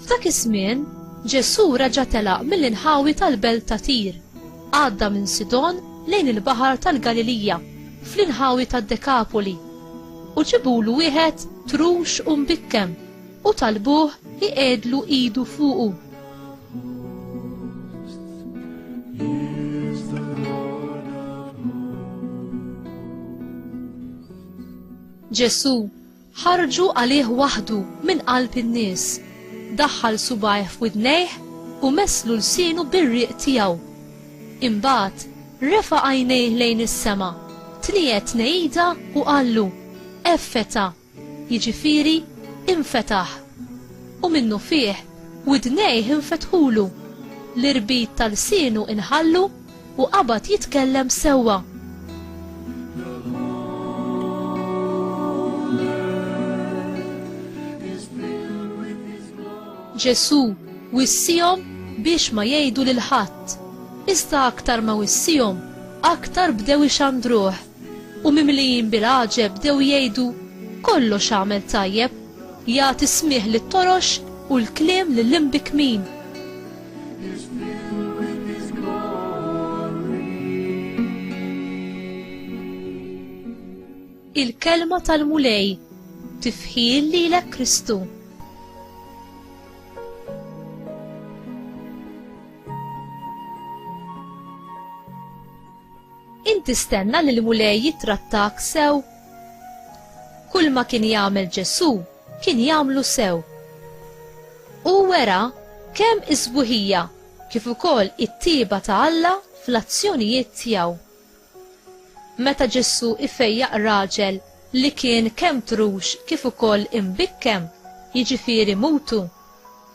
F'dak iż-żmien, Ġesù reġa' telaq mill-inħawi tal-belt ta' Tir, għadda minn Sidon lejn il-baħar tal-Galilija, fl-inħawi tad-Dekapoli, u ġibulu wieħed trux u mbikkem u talbuh iqiegħdlu idu fuqu. Ġesù ħarġu għalih waħdu minn qalb in-nies, daħħal subajh f'widnejh u meslu lsienu bir-riq tiegħu. Imbagħad refa' għajnejh lejn is-sema, tniet tnejida u qallu, Effeta! jiġifieri infetaħ, u minnufih widnejh infetħulu, l-irbit ta' lsienu inħallu u qabad jitkellem sewwa. Ġesù wissihom biex ma jgħidu lil ħadd, iżda aktar ma wissihom, aktar bdew ixandruh. U mimlijin bil-għaġeb bdew jgħidu, Kollox għamel tajjeb, jagħti smigħ lit-torox u l-kliem lill-imbikmin. Il-kelma tal-Mulej tifħil lilek Kristu. Int tistenna li l-Mulej jittrattak sew? Kulma kien jagħmel Ġesù kien jagħmlu sew. Hu wera kemm is-sbuħija kif ukoll it-tjieba ta' Alla fl-azzjonijiet tiegħu. Meta Ġesù ifejjaq raġel li kien kemm trux kif ukoll imbikkem, jiġifieri mutu,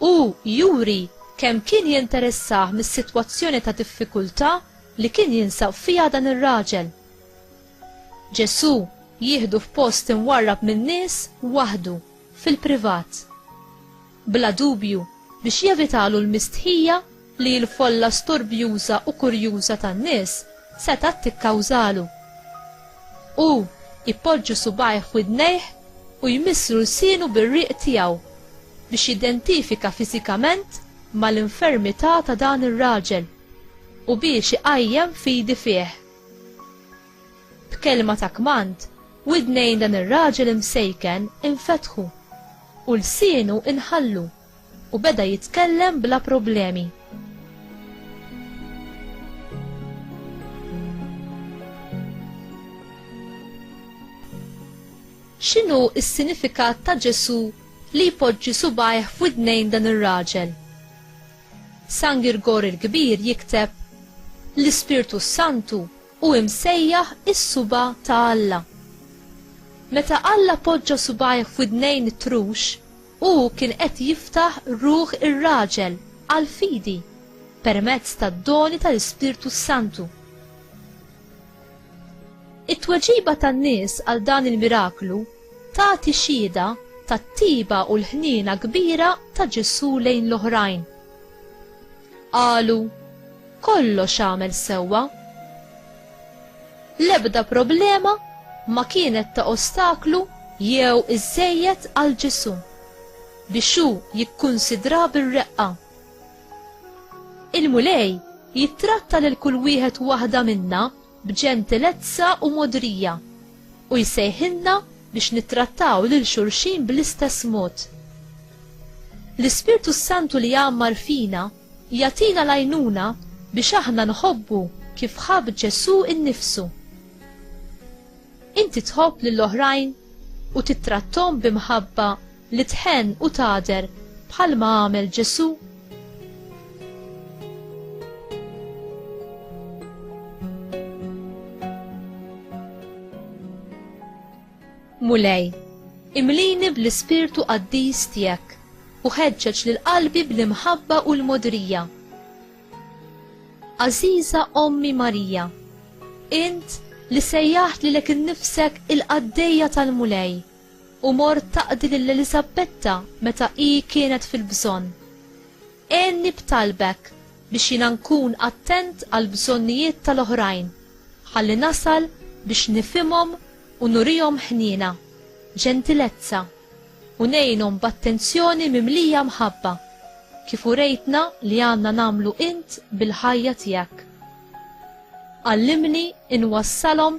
hu juri kemm kien jinteressah mis-sitwazzjoni ta' diffikultà li kien jinsab fiha dan ir-raġel. Ġesù jieħdu f'post imwarrab min-nies waħdu, fil-privat. Bla dubju, biex jevitalu l-mistħija li l-folla storbjuża u kurjuża tan-nies setgħet tikkawżalu. Hu jpoġġu subgħajh widnejh u jmisslu lsienu bir-riq tiegħu biex jidentifika fiżikament mal-infermità ta' dan ir-raġel. u biex iqajjem fidi fih. B'kelma ta' kmand, widnejn dan ir-raġel imsejken infetħu, u lsienu nħallu, u beda jitkellem bla problemi. X'inhu s-sinifikat ta' Ġesù li jpoġġi subgħajh f'widnejn dan ir-raġel? San Girgor il-Kbir jikteb, L-Ispirtu s-Santu hu imsejjaħ is-suba' ta' Alla. Meta Alla poġġa subgħajh f'widnejn it-trux, hu kien qed jiftaħ ruħ ir-raġel għall-fidi permezz tad-doni tal-Ispirtu s-Santu. It-tweġiba tan-nies għal dan il-miraklu tagħti xhieda tat-tiba u l-ħniena kbira ta' Ġesù lejn l-oħrajn. Qalu, kollox għamel sewwa. L-ebda problema ma kienet ta' ostaklu jew iżżejjed għal Ġesù biex hu jikkunsidra bir-reqqa. Il-Mulej jittratta lil kull wieħed waħda minna b'ġentilezza u mogħdrija, u jsejħilna biex nittrattaw lil xulxin bl-istess mod. L-Ispirtu s-Santu li jgħammar fina jagħtina l-għajnuna biex aħna nħobbu kif ħabb Ġesù innifsu. Inti tħobb lill-oħrajn u tittrattom b'imħabba li tħenn u tagħder bħalma għamel Ġesù? Mulej, imlini bl-ispirtu qaddis tiegħek u ħeġġeġ lil qalbi bl-imħabba u l-modrija. Aziza Ommi Marija, int li sejjaħt lilek innifsek il-qaddejja tal-Mulej, u mort taqdi lil Eliżabbetta meta hi kienet fil-bżonn. Għenni b'talbek biex jiena nkun attent għall-bżonnijiet tal-oħrajn, ħalli nasal biex nifhimhom u nurihom ħniena, ġentilezza, u ngħinhom b'attenzjoni mimlija mħabba, kif urejtna li għandna nagħmlu int bil-ħajja tiegħek. Għallimni nwassalhom